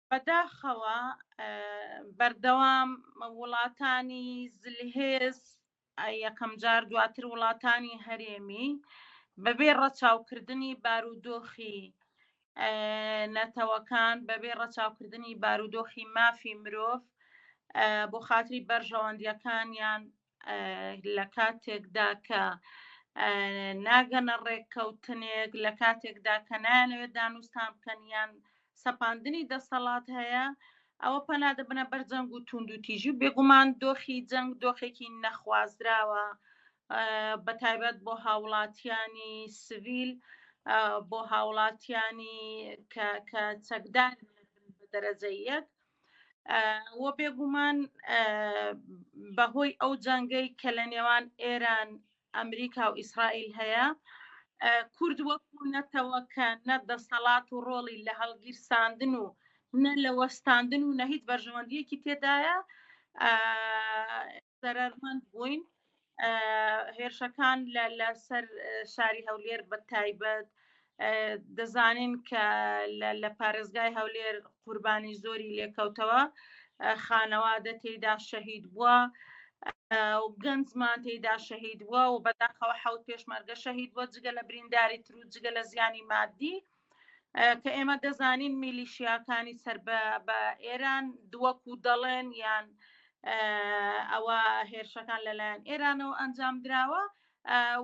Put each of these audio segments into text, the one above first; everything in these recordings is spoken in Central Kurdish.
بەداخەوە بەردەوام وڵاتانی زلهێز یەکەم جار دواتر وڵاتانی هەرێمی بەبێ ڕەچاوکردنی بارودۆخی نەتەوەکان بەبێ ڕەچاوکردنی بارودۆخی مافی مرۆڤ بۆ خاتری بەرژەوەندیەکانیان لە کاتێکدا کە ناگەنە ڕێککەوتنێک لە کاتێکدا کە نایانەوێت دانوستان بکەن یان سەپاندنی دەسەڵات هەیە ئەوە پەنادە بنە بەر جەنگ و تونند و تیژی بێگومان دۆخی جەنگ دۆخێکی نەخوازراوە بە تایبەت بۆ هاوڵاتیانی سڤیل بۆ هاوڵاتیانی کە چەکدار دەرەجە یەک وە بێگومان بەهۆی ئەو جەنگەی کە لە نێوان ئێران ئەمریکا و ئیسرائیل هەیە کورد وەکو نەتەوە کە نە دەسەڵات و ڕۆڵی لە هەڵگیرساندن و نە لە وەستاندن و نە هیچ بەرژەوەندیەکی تێدایە زەرەرمەند بووین هێرشەکان لە لەسەر شاری هەولێر بە تایبەت دەزانین کە لە پارێزگای هەولێر قوربانی زۆری لێکەوتەوە خانەوادە تێدا شەهید بووە و گەنجمان تێدا شەهید بووە و بەداخەوە حوت پێشمەرگە شەهید بۆ جگە لە برینداری تر و جگە لە زیانی مادی کە ئێمە دەزانین میلیشیاکانی سەر بە ئێران دووەکو دەڵێن یان ئەوە هێرشەکان لەلایەن ئێرانەوە ئەنجام دراوە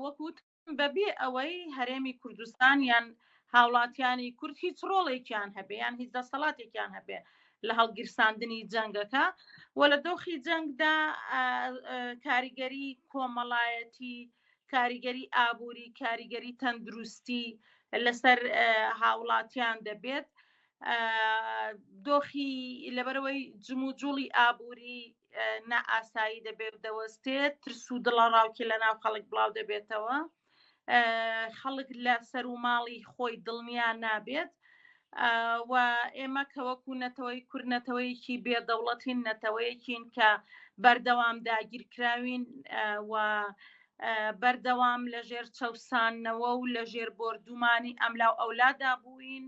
وەکووت بەبێ ئەوەی هەرێمی کوردستان یان هاوڵاتیانی کورد هیچ ڕۆڵێکیان هەبێ یان هیچ دەسەڵاتێکیان هەبێ لە هەڵگیرساندنی جەنگەکە و لە دۆخی جەنگدا کاریگەری کۆمەڵایەتی کاریگەری ئابووری کاریگەری تەندروستی لەسەر هاوڵاتیان دەبێت دۆخی لەبەرەوەی جموجوڵی ئابووری نائاسایی دەبێت دەوەستێت ترس و دڵە ڕاوکی لە ناو خەڵک بڵاو دەبێتەوە خەڵک لە سەر و ماڵی خۆی دڵنیا نابێت و ئێمە کە وەکو نەتەوەی کورد نەتەوەیەکی بێدەوڵەتین نەتەوەیەکین کە بەردەوام داگیرکراوین و بەردەوام لە ژێر چەسانەوە و لە ژێر بردومانی ئەملاو ئەولادا بووین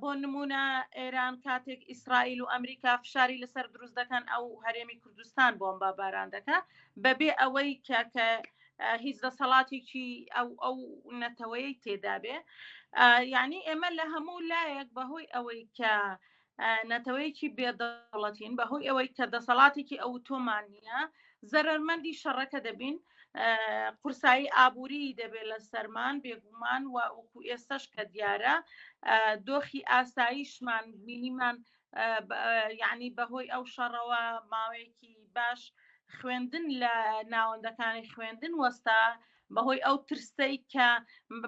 بۆ نمونە ئێران کاتێک ئیسرائیل و ئەمریکا فشاری لەسەر دروست دەکەن ئەو هەرێمی کوردستان بۆم بە باران دەکە بەبێ ئەوەی کە کە هیچ دەسەڵاتێکی ئەو ئەو نەتەوەی تێدابێ یعنی ئێمە لە هەموو لایەک بەهۆی ئەوەی کە نەتەوەیەکی بێدەوڵەتین بەهۆی ئەوەی کە دەسەڵاتێکی ئەو تۆمان نییە زەرمەندی شەڕەکە دەبین قورسایی ئابووری دەبێت لە سەرمان بێگومان و وەکو ئێستش کە دیارە دۆخی ئاساییشمان مینیمان یعنی بەهۆی ئەو شەڕەوە ماوەیەکی باش خوێندن لە ناوەندەکانی خوێندن وەستا بەهۆی ئەو ترسەی کە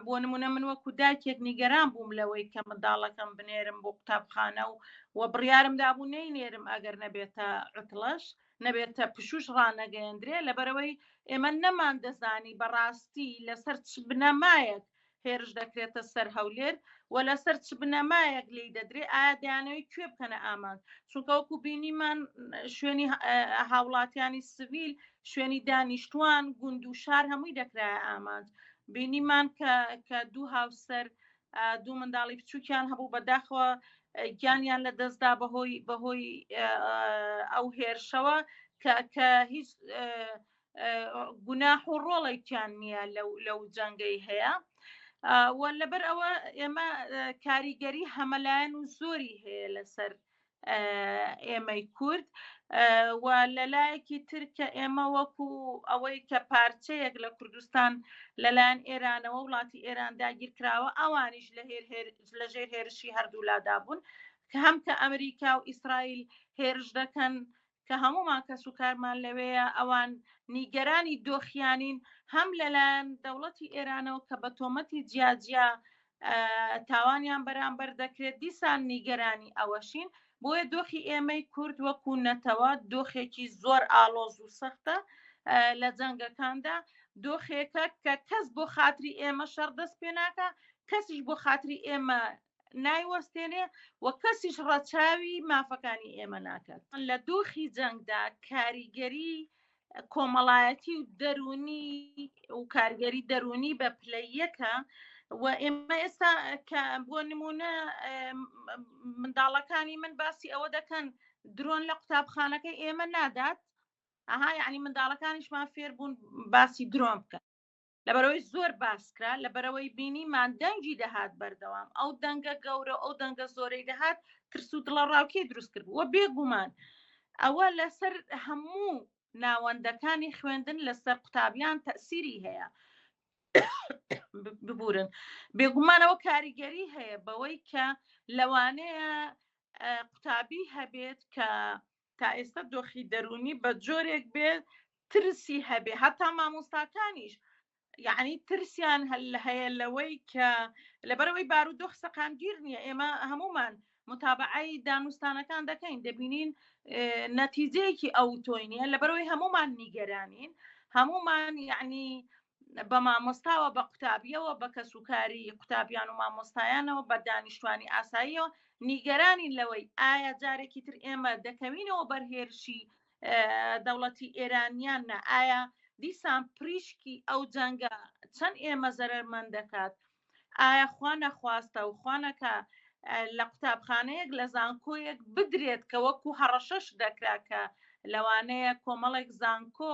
بۆ نمونە من وەکو داکێک نیگەران بووم لەوەی کە منداڵەکەم بنێرم بۆ قوتابخانە و و بڕیارم دابوو نەی نێرم ئەگەر نەبێتە عتڵەش نەبێتە پشوش ڕانەگەیەندرێ لەبەرەوەی ئێمە نەمان دەزانی بەڕاستی لەسەر چ بنەمایەک هێرش دەکرێتە سەر هەولێر و لەسەر چ بنەمایەک لێی دەدرێ ئایا دەیانەوەی کوێ بکەنە ئامانج چونکە وەکو بینیمان شوێنی هاوڵاتیانی سڤیل شوێنی دانیشتوان گوند و شار هەمووی دەکرایە ئامانج بینیمان کە کە دوو هاوسەر دوو منداڵی بچووکیان هەبوو بەداخەوە گیانیان لە دەستدا بەهۆی بەهۆی ئەو هێرشەوە کە کە هیچ گوناح و ڕۆڵێکیان نییە لەو جەنگەی هەیە لەبەر ئەوە ئێمە کاریگەری هەمەلایەن و زۆری هەیە لەسەر ئێمەی کورد و لەلایەکی ترکە ئێمە وەکو ئەوەی کە پارچەیەک لە کوردستان لەلایەن ئێرانەوە وڵاتی ئێران داگیرکراوە ئەوانیش لە هێر لە ژێر هێرشی هەردوولادا بوون کە هەم کە ئەمریکا و ئیسرائیل هێرش دەکەن کە هەموومان کەس و کارمان لەوێیە ئەوان نیگەرانی دۆخیانین هەم لەلایەن دەوڵەتی ئێرانەوە کە بە تۆمەتی جیاجیا تاوانیان بەرامبەر دەکرێت دیسان نیگەرانی ئەوەشین بۆیە دۆخی ئێمەی کورد وەکو نەتەوە دۆخێکی زۆر ئاڵۆز و سەختە لە جەنگەکاندا دۆخێکە کە کەس بۆ خاتری ئێمە شەڕ دەست پێ ناکە کەسیش بۆ خاتری ئێمە نایوەستێنێ و کەسیش ڕەچاوی مافەکانی ئێمە ناکات لە دۆخی جەنگدا کاریگەری کۆمەڵایەتی و دەرونی و کارگەری دەرونی بە پلە یەکە و ئێمە ئێستا کە بۆ نمونە منداڵەکانی من باسی ئەوە دەکەن درۆن لە قوتابخانەکە ئێمە نادات ئەها یعنی منداڵەکانیشمان فێربوون باسی درۆن بکەن لەبەرەوەی زۆر باسکرا لەبەرەوەی بینیمان دەنگی دەهات بەردەوام ئەو دەنگە گەورە ئەو دەنگە زۆرەی دەهات ترس و دڵە ڕاوکێ دروست کرد وە بێگومان ئەوە لەسەر هەموو ناوەندەکانی خوێندن لەسەر قوتابیان تەسیری هەیە ببورن بێگومانەوە کاریگەری هەیە بەوەی کە لەوانەیە قوتابی هەبێت کە تا ئێستا دۆخی دەروونی بە جۆرێک بێ ترسی هەبێ هەتا مامۆستاکانیش یعنی ترسیان هەل هەیە لەوەی کە لەبەرەوەی بارو دۆخ سەقامگیر نییە ئێمە هەمومان متابعی دانوستانەکان دەکەین دەبینین نەتیجەیەکی ئەو تۆینە لەبەرەوەی هەمومان نیگەرانین هەمومان یعنی بە مامۆستاوە بە قوتابیەوە بە کەس و کاری قوتابیان و مامۆستایانەوە بە دانیشتوانی ئاساییەوە نیگەرانین لەوەی ئایا جارێکی تر ئێمە دەکەوینەوە بەرهێرشی دەوڵەتی ئێرانیان نە ئایا دیسان پریشکی ئەو جەنگە چەند ئێمە زەرمەند دەکات ئایا خوا نەخواستە و خوا نەکا لە قوتابخانەیەک لە زانکۆیەک بدرێت کە وەکو هەڕەشەش دەکرا کە لەوانەیە کۆمەڵێک زانکۆ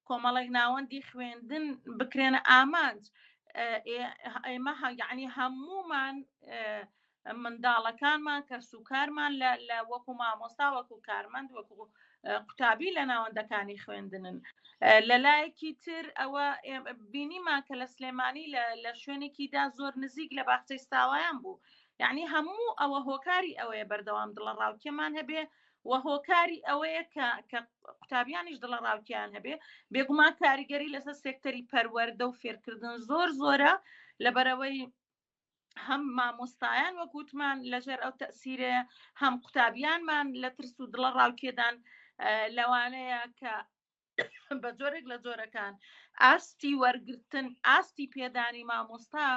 کۆمەڵێک ناوەندی خوێندن بکرێنە ئامانج ئێمە یعنی هەموومان منداڵەکانمان کەسوکارمان لە وەکو مامۆستا وەکو کارمەند وەکو قوتابی لە ناوەندەکانی خوێندنن لەلایەکی تر ئەوە بینیمان کە لە سلێمانی لە شوێنێکیدا زۆر نزیک لە باخچەی ساوایان بوو یعنی هەموو ئەوە هۆکاری ئەوەیە بەردەوام دڵە ڕاوکێمان هەبێ و هۆکاری ئەوەیە کە قوتابیانیش دڵە ڕاوکیان هەبێ بێگومان کاریگەری لەسەر سێکتەری پەروەەردە و فێرکردن زۆر زۆرە لەبەرەوەی هەم مامۆستایان وەک وتمان لەژێر ئەو تەسیرێ هەم قوتابیانمان لە ترس و دڵە ڕاوکێدان لەوانەیە کە بە جۆرێک لە جۆرەکان ئاستی وەرگتن ئاستی پێدانی مامۆستا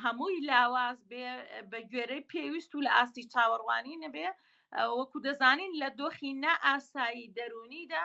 هەمووی لاواز بێ بە گوێرەی پێویست و لە ئاستی چاوەڕوانی نەبێ وەکو دەزانین لە دۆخی نائاسایی دەرونیدا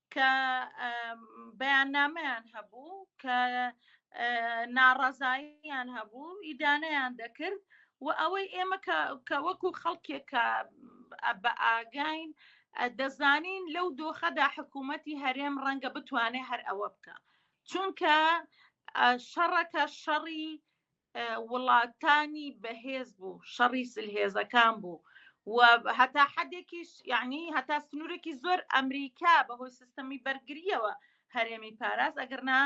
کە بەیاننامەیان هەبوو کە ناڕەزاییان هەبوو ئیدانەیان دەکرد و ئەوەی ئێمە کە وەکو خەڵکێک کە بە ئاگین دەزانین لەو دۆخەدا حکوومەتی هەرێم ڕەنگە بتوانێت هەر ئەوە بکە چونکە شەڕەکە شەڕی وڵاتانی بەهێز بوو شەڕی سلهێزەکان بوو و هەتا حدێکیش یعنی هەتا سنوورێکی زۆر ئەمریکا بەهۆی سیستەمی بەرگریەوە هەرێمی پاراز ئەگەرنا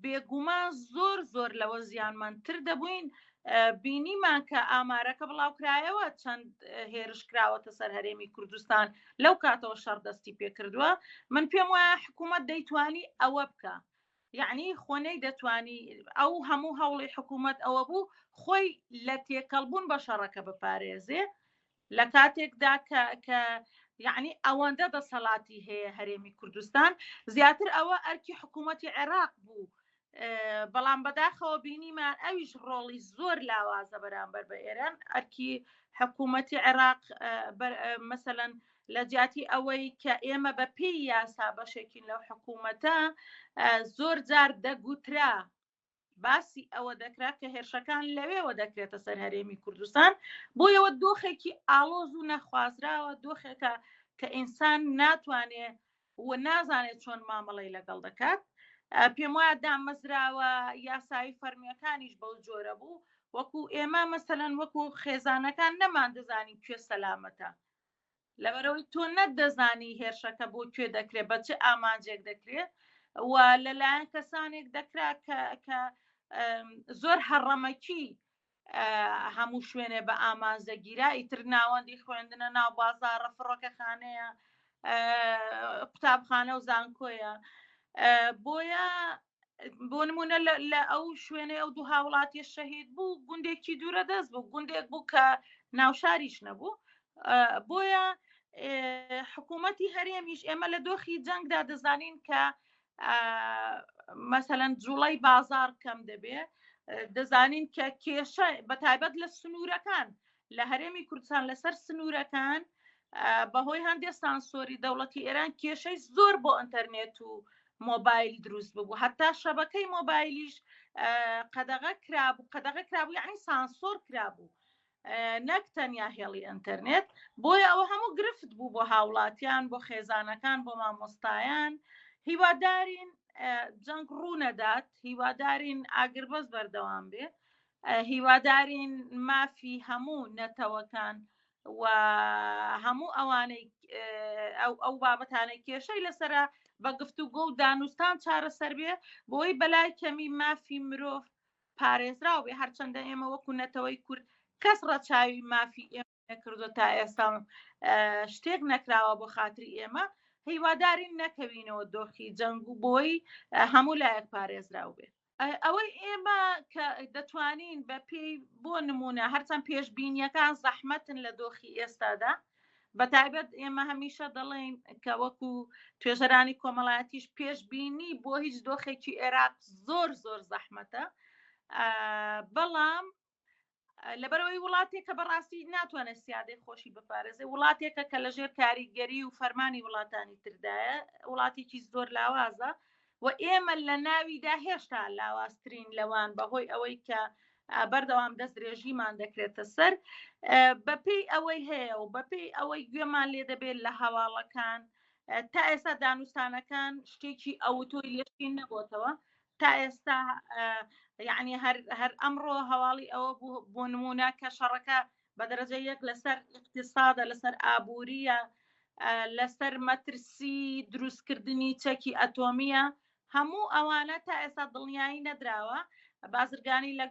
بێگومان زۆر زۆر لەوە زیانمەندتر دەبووین بینیمان کە ئامارەکە بڵاوکرایەوە چەند هێرش کراوەتە سەر هەرێمی کوردستان لەو کاتەوە شەڕدەستی پێکردووە من پێم وایە حکوومەت دەیتوانی ئەوە بکە یعنی خۆ نەیدەتوانی ئەو هەموو هەوڵی حکوومەت ئەوە بوو خۆی لە تێکەڵبوون بە شەڕەکە بپارێزێ لە کاتێکدا کە کە یعنی ئەوەندە دەسەڵاتی هەیە هەرێمی کوردستان زیاتر ئەوە ئەرکی حکوومەتتی عێراق بوو بەڵام بەداخەوە بینیمان ئەویش ڕۆڵی زۆر لاوازە بەرامبەر بە ئێران ئەرکی حکوومەتتی عێراق مەسەەن لە جیاتی ئەوەی کە ئێمە بە پێی یاسا بەشێکین لەو حکوومەتە زۆر جار دەگوترا باسی ئەوە دەکرا کە هێرشەکان لەوێوە دەکرێتە سەر هەرێمی کوردستان بۆ یەوە دۆخێکی ئاڵۆز و نەخوازراوە دۆخێکە کە ئینسان ناتوانێ و نازانێت چۆن مامەڵی لەگەڵ دەکات پێم وایە دامەزراوە یاسایی فەرمیەکانیش بەو جۆرە بوو وەکو ئێمە مەسەەن وەکو خێزانەکان نەمان دەزانین کوێ سەلامەتە لەبەرئەوەی تۆ نە دەزانی هێرشەکە بۆ کوێ دەکرێت بە چ ئامانجێک دەکرێت و لەلایەن کەسانێک دەکرا کە زۆر هەڕەمەکی هەموو شوێنێ بە ئامانج دەگیرا ئیتر ناوەندی خوێندنە ناو بازارە فڕۆکەخانەیە قوتابخانە و زانکۆیە بۆیە بۆ نمونە لە ئەو شوێنێ ئەو دوو هاوڵاتی شەهید بوو گوندێکی دوورە دەست بوو گوندێک بوو کە ناوشاریش نەبوو بۆیە حکوومەتی هەرێمیش ئێمە لە دۆخی جەنگدا دەزانین کە مەسەەن جوڵی بازار کەم دەبێ دەزانین کە کێشە بە تایبەت لە سنوورەکان لە هەرێمی کوردستان لەسەر سنوورەکان بەهۆی هەندێک سانسۆری دەوڵەتی ئێران کێشەی زۆر بۆ ئەتەرنێت و مۆبایل دروست ببوو هەتا شەبەکەی مۆبایلیش قەدەغە کرابوو قەدەغە کرابوو یعنی سانسۆر کرابوو نەک تەنیا هێڵی ئەتەرنێت بۆیە ئەوە هەموو گرفت بوو بۆ هاوڵاتیان بۆ خێزانەکان بۆ مامۆستایان هیوادارین جەنگ ڕوونەدات هیوادارین ئاگربەس بەردەوام بێ هیوادارین مافی هەموو نەتەوەکان و هەموو ئەوانەی ئەو ئەو بابەتانە کێشەی لەسرە بە گفتوگۆ و دانوستان چارەسەر بێ بۆی بەلای کەمی مافی مرۆڤ پارێزراو بێ هەرچەندە ئێمە وەکو نەتەوەی کورد کەس ڕەچاوی مافی ئێمە نەکردو تا ئێستا شتێک نەکراوە بۆ خاتری ئێمە هیوادارین نەکەوینەوە دۆخی جەنگ و بۆی هەموو لایەک پارێزراو بێت ئەوەی ئێمە کە دەتوانین بە پێی بۆ نمونە هەرچەند پێشببینیەکان زەحمەتن لە دۆخی ئێستادا بە تایبەت ئێمە هەمیشە دەڵێن کە وەکو توێژەرانی کۆمەڵایەتیش پێشببینی بۆ هیچ دۆخێکی عێراق زۆر زۆر زەحمەتە بەڵام لەبەرەوەی وڵاتێکە بەڕاستی ناتوانێت سیادەی خۆشی بپارێزێ وڵاتێکە کە لە ژێر کاریگەری و فەرمانی وڵاتانی تردایە وڵاتێکی زۆر لاوازە و ئێمە لە ناویدا هێشتا لاوازترین لەوان بەهۆی ئەوەی کە بەردەوام دەست درێژیمان دەکرێتە سەر بەپی ئەوەی هەیە و بەپی ئەوەی گوێمان لێ دەبێت لە هەواڵەکان تا ئێستا دانوستانەکان شتێکی ئەوتۆی لێشین نەبووتەوە تا ئێستا یعنی هەر ئەمڕۆ هەواڵی ئەوە بۆ نمونە کە شەڕەکە بە دەرەجە یەک لەسەر اقتصادە لەسەر ئابووریە لەسەر مەترسی دروستکردنی چەکی ئەتۆمیە هەموو ئەوانە تا ئێستا دڵنیایی نەدراوە بازرگانی لە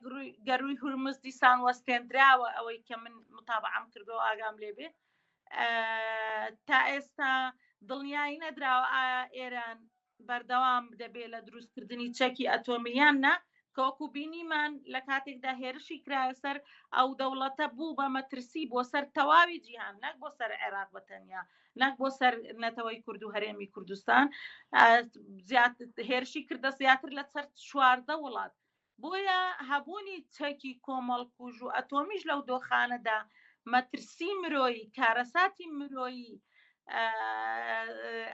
گەروی هورمز دیسان وەستێنراوە ئەوەی کە من متابعام کردو ئاگام لێبێ تا ئێستا دڵنیایی نەدراوە ئایا ئێران بەردەوام دەبێت لە دروستکردنی چەکی ئەتۆمی یان نا کە وەکو بینیمان لە کاتێکدا هێرشی کرایە سەر ئەو دەوڵەتە بوو بە مەترسی بۆ سەر تەواوی جیهان نەک بۆ سەر عێراق بە تەنیا نەک بۆ سەر نەتەوەی کورد و هەرێمی کوردستان هێرشی کردە زیاتر لە سەر چواردە وڵات بۆیە هەبوونی چەکی کۆمەڵکوژ و ئەتۆمیش لەو دۆخانەدا مەترسی مرۆیی، کارەساتی مرۆیی،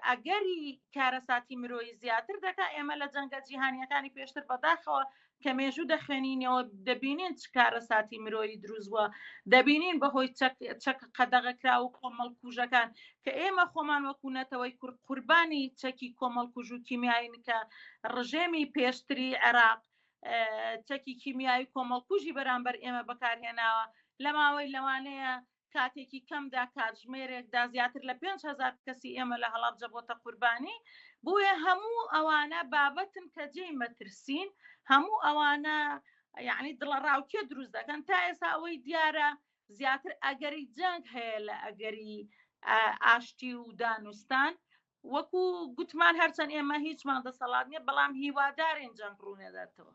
ئەگەری کارەساتی مرۆیی زیاتر دەکات، ئێمە لە جەنگە جیهانییەکانی پێشتر بەداخەوە کە مێژوو دەخوێنینەوە دەبینین چ کارەساتی مرۆیی دروستوە دەبینین بەهۆی چەک قەدەغەکرا و کۆمەڵکوژەکان کە ئێمە خۆمان وەکو نەتەوەی کورد قوربانی چەکی کۆمەڵکوژ و کیمیاین کە ڕژێمی پێشتری عێراق چەکی کیمیایی کۆمەڵکوژی بەرامبەر ئێمە بەکارهێناوە لە ماوەی لەوانەیە کاتێکی کەمدا کاتژمێرێکدا زیاتر لە 5هزار کەسی ئێمە لە هەڵابجە بۆتە قوربانی بۆیە هەموو ئەوانە بابەتن کە جێی مەترسین هەموو ئەوانە یعنی دڵە ڕاوکێ دروست دەکەن تا ئێستا ئەوەی دیارە زیاتر ئەگەری جەنگ هەیە لە ئەگەری ئاشتی و دانوستان وەکو گوتمان هەرچەند ئێمە هیچمان دەسەڵات نیە بەڵام هیوادارین جەنگ ڕوونێداتەوە